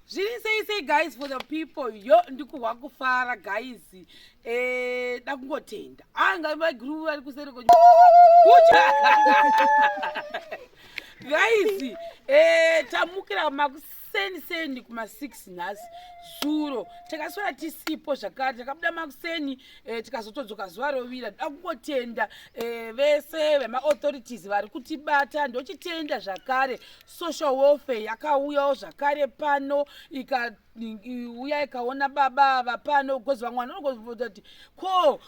zviri sei sei guys for the people yo ndikuhwa kufara guys eh, da kungotenda anga ah, vaiguru vari kuseri ko guys eh, tamukira makuseni seni kuma 6 nhasi zuro takaswera tisipo zvakare takabuda makuseni eh, tikazotodzoka zuva rovira da kungotenda eh, vese vemaauthorities vari kutibata ndochitenda zvakare social welfare yakauyawo zvakare pano ikauya ikaona baba ava pano because vamwe vanhu vanogozovoza kuti ko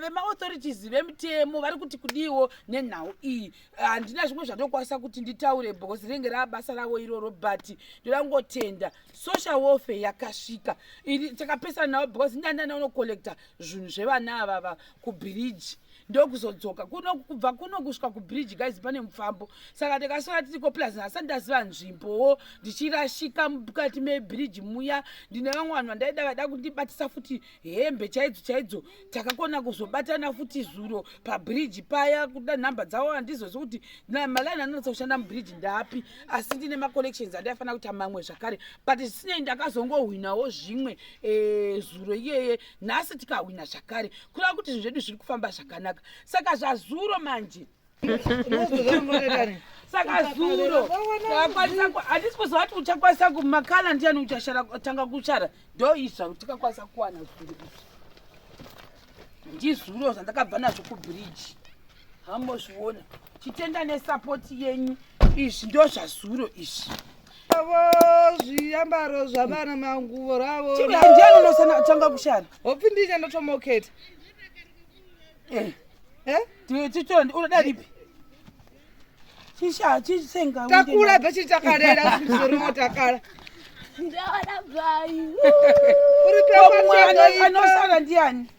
vemaauthorities vemitemo vari kuti kudiiwo nenhau iyi handina zvimwe zvandokwanisa kuti nditaure because rinenge raa basa ravo iroro but ndoda kungotenda social welfare yakasvika takapesana navo because ndandana unocollecta zvinhu zvevana avava kubhiriji ndokuzodzoka kuno kubva kuno kusvika kubridge guys pane mufambo saka ndakasvika tiriko plus nhasati ndaziva nzvimbowo ndichirashika mukati mebridge muya ndine vamwe vanhu vandaida vaida kundibatisa futi hembe chaidzo chaidzo takakona kuzobatana futi zuro pabridge paya kuda nhamba dzavo handizozi kuti malaini anonatsa kushanda mubridge ndapi asi ndine macollections andaifanira kuita mamwe zvakare but zvisinei ndakazongohwinawo zvimwe eh, zuro iyeye nhasi tikahwina zvakare kureva kuti zvinhu zvedu zviri kufamba zvakanaka saka zvazuro manje saka zuro takwanisa handisi kuziva kuti uchakwanisa kumakala ndiyani uchashara tanga kushara ndo izva kuti tikakwanisa kuwana zuro izvi ndizuro zvandakabva nazvo kubridge hamozviona chitenda nesapoti yenyu izvi ndo zvazuro izvi avo zviambaro zvavana manguvo ravo chiandianonosanatanga kushana hopfi ndii chandotomoketa eh. eh? tichitondi unoda ripi chishaa chisenga takula pechi takarera zoriwo takala ndaona bvai uri peanosara ndiani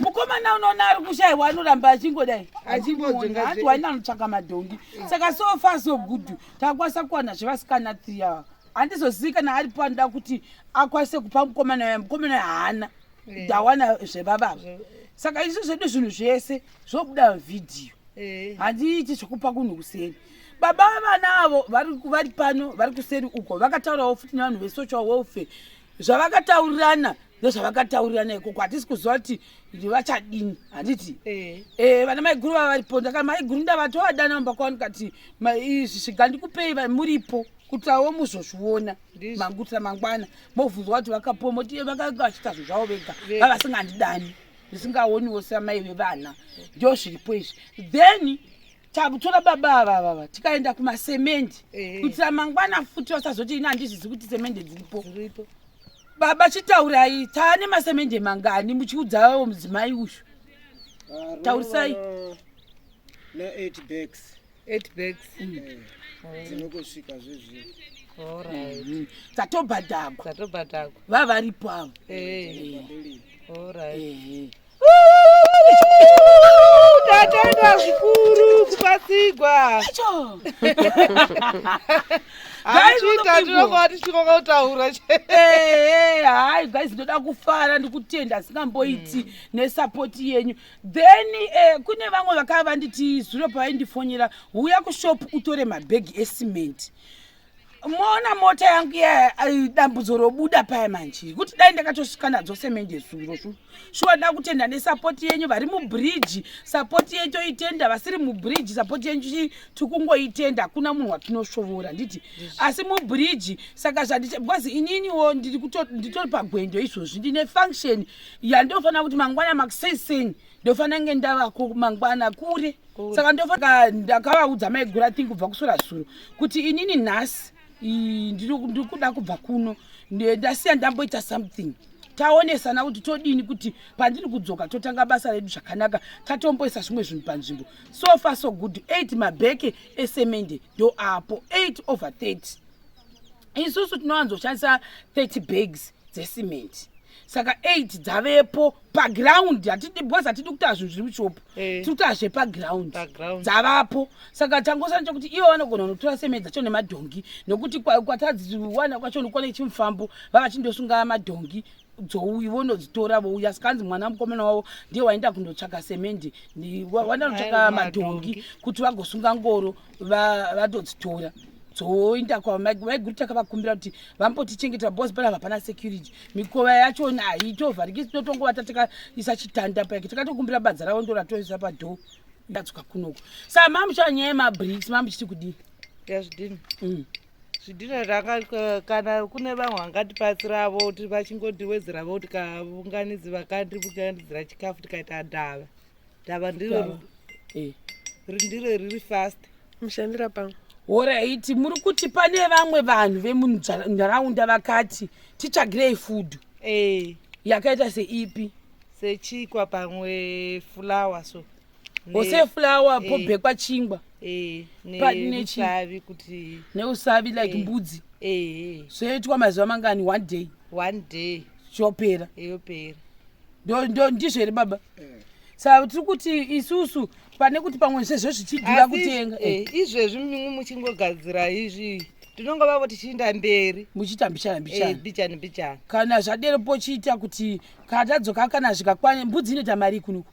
mukomana unoona ari kushaiwa anoramba achingodai achimbodzoaati waina anotsvaka madhongi saka so far so good takakwanisa kuwana zvevasikana three ava handizozii kana aripo anoda kuti akwanise kupa mukomana waya mukomana waya haana ndawana eh. zvevavava saka isu zvedu zvinhu zvese zvobuda vhidhiyo eh. handiiti zvekupa kunhu kuseri baba vevana avo vari pano vari kuseri uko vakataurawo futi nevanhu vesocial welfare zvavakataurirana ndozvavakataurirana ikoko hatisi kuziva kuti vachadini handiti eh. eh, vana maiguru vava varipo ndaka maiguru ndavatovadana mumba kwavo ndikati izvi sviga ndikupei muripo kutawo muzozviona mangutira mangwana mobvunzwa kuti vakapuwa moti eh, vakaita zvinhu zvavo vega vavasingandidani ndisingaoniwo samai vevana ndo zviripo izvi then takutora baba ava vava tikaenda kumasemendi eh. kuitira mangwana futi vasazoti ini handizvizi kuti semendi dziripo baba chitaurai taane masemendi mangani muchiudzavawo mudzimai uyu taurisai dzinokosvika zvezvino mm-hmm. dzatobhadhagwa vava varipo avo eh. Tatenda zvikuru kubatsirwa. Hachiita tinonga tichikoka kutaura chete. Hayi guys ndoda kufara ndikutenda asingamboiti mm. nesupport yenyu. Then eh, kune vamwe vakava vanditi zuro pavaindifonyera huya kushop utore mabhegi ecement. moona mota yangu iya dambudzo robuda paya manje kuti dai ndakatosvika nadzo semende zuro shu shuwa da kutenda nesapoti yenyu vari mubridge sapoti yenyu toitenda vasiri mubridge sapoti yenyu tiri kungoitenda hakuna munhu watinosvovora nditi asi mubridge saka zvandicha bcause ininiwo nditori pagwendo izvozvi ndine function yandofanira kuti mangwana makusei sei ndofanira nge ndavako mangwana kure saka ndofa ndakavaudza maigura thing kubva kusura zuro kuti inini nhasi ndiri kuda kubva kuno ndasiya ndamboita something taonesana kuti todini kuti pandiri kudzoka totanga basa redu zvakanaka tatomboisa zvimwe zvinhu panzvimbo so far so good eight mabheke esemende ndo apo eight over thirty isusu tinowanzoshandisa thirty bags dzesimenti saka eight dzavepo paground hatidi because hatidi kutaa zvinhu zviri mushop eh. tiri kutaa zvepaground dzavapo saka changosana chokuti ivo vanogona kunotora semei dzacho nemadhongi nokuti kwatadziwana kwacho nokwana ichimufambo vavachindosunga madhongi dzouyi vonodzitora vouya sikanzi mwana mukomana wavo ndiye waenda kundotsvaka semendi waenda kunotsvaka madhongi kuti vagosunga ngoro vatodzitora dzoenda kwavaiguru takavakumbira kuti vambotichengeta bos pana vapana security mikova yacho haitovhariki tinotongovata takaisa chitanda pake takatokumbira badza ravo ndo ratoisa padhoo ndadzoka kunoko sa mamuchava nyaya yemabriks mamuchiti kudii yazvidini mm. zvidhina zvaka kana kune vamwe vangatipatsiravo kuti vachingondiwedzeravo kuti kavunganidzi vakandivunganidzira chikafu tikaita ndava dava ndiro eh. rindiro riri fast mushandira pamwe horaiti muri kuti pane vamwe vanhu vemunharaunda vakati titsvagirei fudhu eh. yakaita seipi sechikwa pamwe fulawa so ose fulawa eh. pobhekwa chingwa eh, neusavi kuti neusavi like eh. mbudzi zvoitwa mazuva mangani one day one day chopera yopera ndizvo here baba eh. sa tiri kuti isusu pane kuti pamwe zvezvo zvichidhura kutenga eh, eh. izvezvi mimwe muchingogadzira izvi tinonge vavo tichiinda mberi muchiita mbichana mbichana mbichana mbichana kana zvadero pochiita kuti katadzoka kana zvikakwanya mbudzi inoita mari kunuku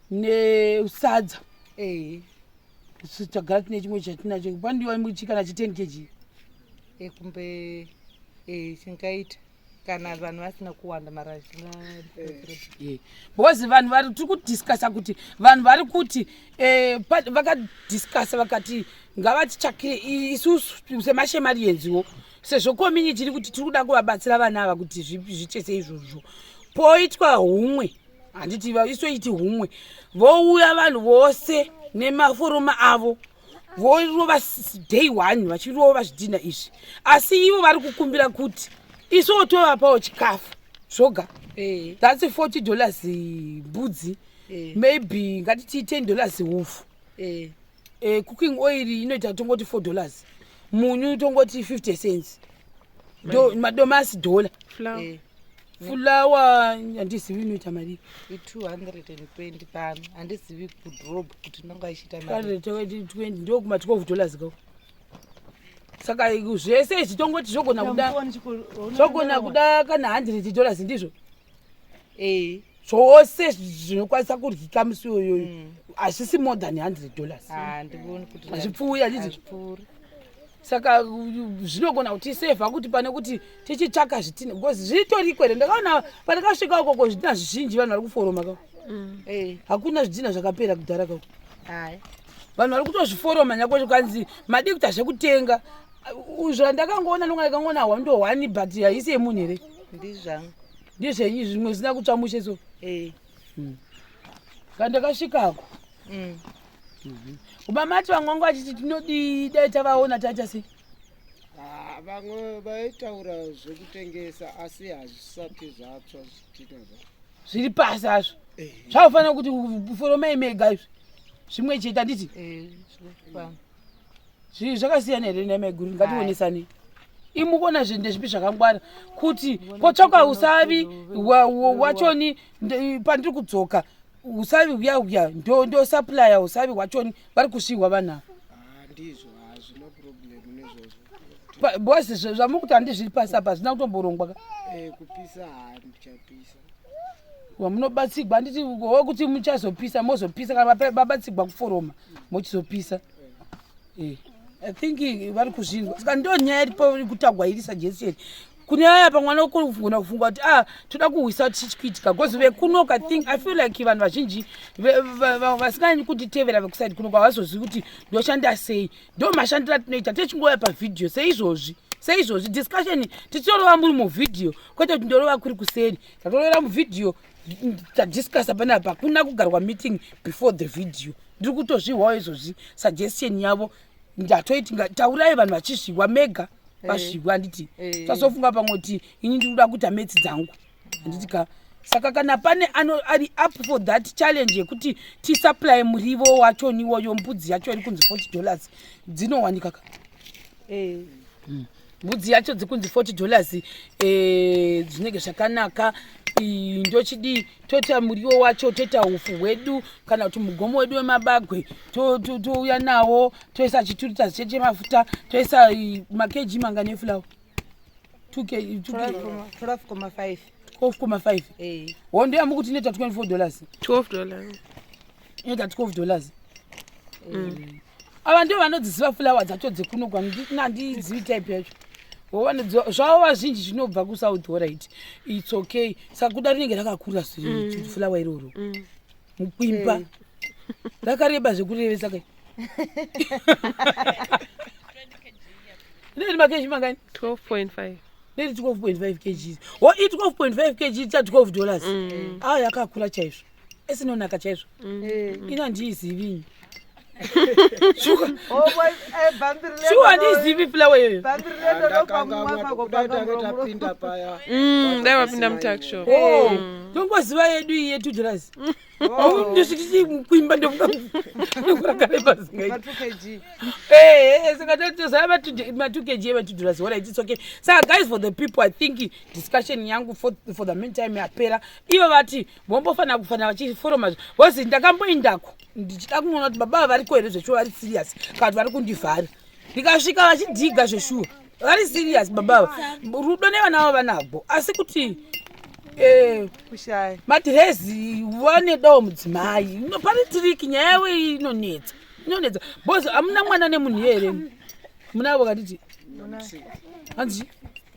nesadza eh. tagara tine chimwe chatinacho pandiwa muchikana chi 10 kg ekumbe eh, chingaita kana vanhu vasina kuwanda mara eh. because vanhu vari tiri kudiscussa kuti vanhu vari kuti eh, vakadiscussa vakati ngavatitsvakire isusu semashemari yenziwo sezvo community iri kuti tiri kuda kuvabatsira vana ava kuti zvichese izvozvo poitwa humwe handiti vaisoiti humwe vouya vanhu vose nemaforoma avo vorova day one vachirova zvidhina izvi asi ivo vari kukumbira kuti isuwo tovapawo chikafu zvoga eh. thats 40 dollars mbudzi eh. maybe ngatiti 10 dollars hupfu eh. e, cooking oil inoita tongoti four dollars munyu tongoti fifty cents Do, madomasi dollar flour eh. fulawa handizivi inoita marii i220 pano handizivi kudrob kuti inonga ichiita mari20 ndokuma 12 dollars kau saka zvese izvi tongoti zvogona kuda zvogona kuda kana 100 dollars ndizvo eh. zvose zvinokwanisa kuryika musi iyoyoyo mm. hazvisi more than hundred dollars ah, hazvipfuuri hazviti saka zvinogona kuti iseva kuti pane kuti tichitsvaka zvitina because zvitoriko here ndakaona pandakasvika ukoko zvidina zvizhinji vanhu vari kuforoma ka mm. eh. hakuna zvidina zvakapera kudhara ka vanhu vari kutozviforoma nyakwe zvikanzi madii kuita zvekutenga zvandakangoona nonga ndakangoona hwando hwani but haisi yemunhu here ndizvangu ndizvenyi zvimwe zvisina kutsva mushe so eh. hmm. kandakasvikako hmm. hmm. ubamati vamwangu vachiti tinodii dai tavaona taita sei Ah, vamwe vaitaura zvekutengesa asi hazvisati zvatsva zvitinazvo zviri pasi hazvo eh. zvaufanira kuti foromai mega izvi zvimwe chete handiti eh, zvii zvakasiyana here nemaiguru ngationesani imukona zvinhu ndezvipi zvakangwara kuti kotsvaka usavi wachoni pandiri kudzoka usavi uya uya ndosaplya usavi wachoni vari kusiiwa vanhu ava ndizvo hazvina problem nezvozvo boys zvamuri kuti handi zviri pasi apa hazvina kutomborongwa ka eh, kupisa handichapisa wamunobatsigwa handiti wo kuti muchazopisa mozopisa kana babatsigwa kuforoma mochizopisa eh. eh. i think vari kuzvinzwa saka ndo nyaya iripo kutagwa iri sajesieni kune vaya pamwe vanogona kufunga kuti a ah, toda kuhwisa tichichiitika bcause vekunoka think i feel like vanhu vazhinji vasinganyi kutitevera vekusaidi kunoka havazozivi kuti ndoshanda sei ndo mashandiro atinoita techingoya pavhidhiyo seizvozvi seizvozvi discussion tichitorova muri muvhidhiyo kwete kuti ndorova kuri kuseri tatorovera muvhidhiyo tadiscusa panapa kuna kugarwa meeting before the video ndiri kutozvihwawo izvozvi suggestion yavo ndatoiti taurai vanhu vachizviwa mega eh. vazviwa handiti eh. tazofunga pamwe kuti ini ndikuda kuita metsi dzangu handiti ka saka kana pane ano ari up for that challenge yekuti tisupply murivo wacho niwoyo mbudzi yacho iri kunzi 40 dollars dzinowanika ka eh. hmm. mbudzi yacho dzikunzi 40 dollars eh, zvinenge zvakanaka ndochidii toita muriwo wacho toita ufu hwedu kana kuti mugomo wedu wemabagwe touya nawo toisa chiturita ziche chemafuta toisa makeji manga nefulawa 12,5 hondo yamukuti inoita 24 dollars 12 dollars inoita 12 dollars mm. ava ndivo vanodziziva fulawa dzacho dzekuno kwanandizivi type yacho zvavo vazhinji zvinobva kusouth horit its okay saka kuda rinenge rakakura mm. fulawa iroro mm. mukwimba eh. rakareba zvekurevesa kai ndiri makeji mangani 12.5 ndiri 12.5 kgs wo i 12.5 kg ta 12 dollars mm. aa ah, yakakura chaizvo esinonaka chaizvo mm. ini handiizivinyi shuwa oh, handiizivi eh, fulawa iyoyo mm, dai vapinda mutakshop oh, mm. ndongoziva yedu iyi yetudras oh. ndosvititi kuimba ndokuragarebazingaiti matukg evatudras wona its okay saka guys for the people i think discussion yangu for the meantime yapera ivo vati vombofanira kufanira vachiforoma bcause ndakamboindako ndichida kunoona kuti baba variko here zveshuwa vari serious kana kuti vari kundivhara ndikasvika vachidhiga zveshuwa vari serious babava rudo nevana vavo vanabho asi kuti eh, madhirezi vanedawo mudzimai pane tiriki nyaya yavo inonetsa inonetsa bcause hamuna mwana nemunhu here munavo katiti hanzi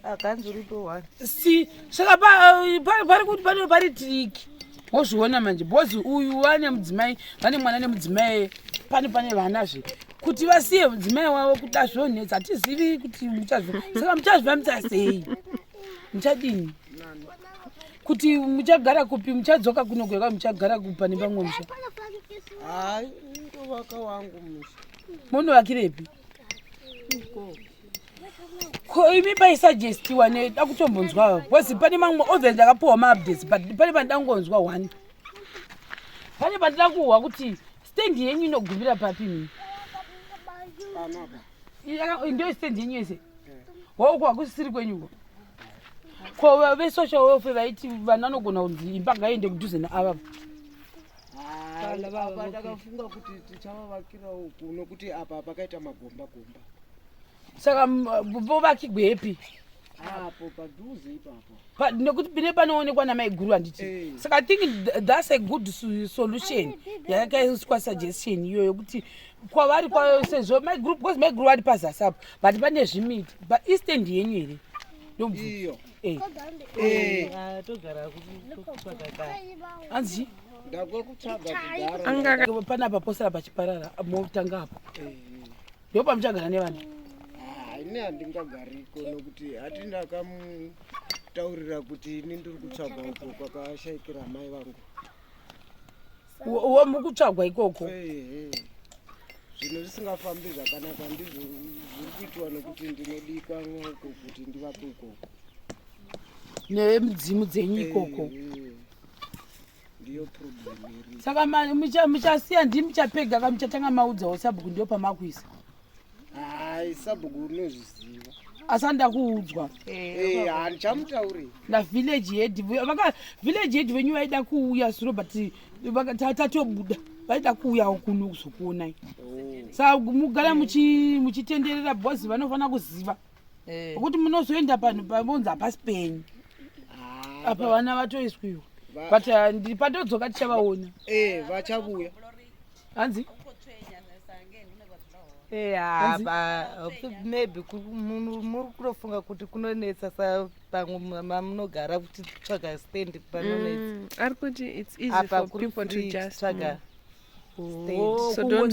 akanzi rudo one si saka pari kuti pano pari triki wozviona manje bhozi uyu vane mudzimai vane mwana nemudzimai pane pane vana zve kuti vasiye mudzimai wavo kuti azvonetsa hatizivi kuti muchazvo saka muchazviva muchasei muchadini kuti muchagara kupi muchadzoka kuno kweka muchagara kupa nepamwe musha hai ndovaka wangu musha munovakirepi ko imi paisugestiwa ne dakutombonzwa bcause pane mamwe ove ndakapiwa maupdates but pane pandangonzwa one pane pandida kuhwa kuti stendi yenyu inogumira papi mi ndo stendi yenyu yese hoko hakusisiri kwenyuko ko vesocial welfare vaiti vana vanogona kunzi imba ngaiende kudhuze naavavo apa takafunga kuti tichavavakira uku nokuti apa pakaita magomba gomba saka vovakigwepi apo padhuze ipapo nekuti pine panoonekwa namai guru handiti eh. saka i think thats a good solution yakaiswa suggestion iyo yokuti kwavari kwayo sezvo mai guru because mai guru vari pazasi apo but pane zvimiti but eastend yenyu here iyo Eh. Eh. Ah, anzi panapa posara pachiparara motanga apo eh. ndipo pamuchagara nevana ah, ini handingagariko nokuti hati ndakamutaurira kuti ini ndiri kutsvaga uko kwakashaikira amai vangu wo mukutsvagwa ikoko zvinhu zvisingafambi zvakanaka ndizvo zviri kuitwa nokuti ndinodikwa noko kuti ndivape ikoko nemudzimu dzenyu ikoko saka muchasiya ndii muchapega ka muchatanga maudzawo sabhuku ndiyo pamakuisa Hai sabhuku unozviziva. Asi ndakuudzwa. Eh, handichamutauri. Eh, Na village head vaka village head venyu vaida kuuya suro but tatobuda. Vaida kuuya kuno kuzokuonai. Oh. Sa mugara muchi muchitenderera boss vanofana kuziva. Eh. Kuti munozoenda panhu pavonza hapasi penyu. Ah, Apa vana vatoiswiwa. But uh, ndiri patodzoka tichavaona. Eh, vachavuya. hanzi maybe muri kutofunga kuti kunonetsa sa pamwe mamunogara kuti tsvaga stand panonetsa mm, ari kuti it's easy for people to just tsvaga mm. stand oh, so don't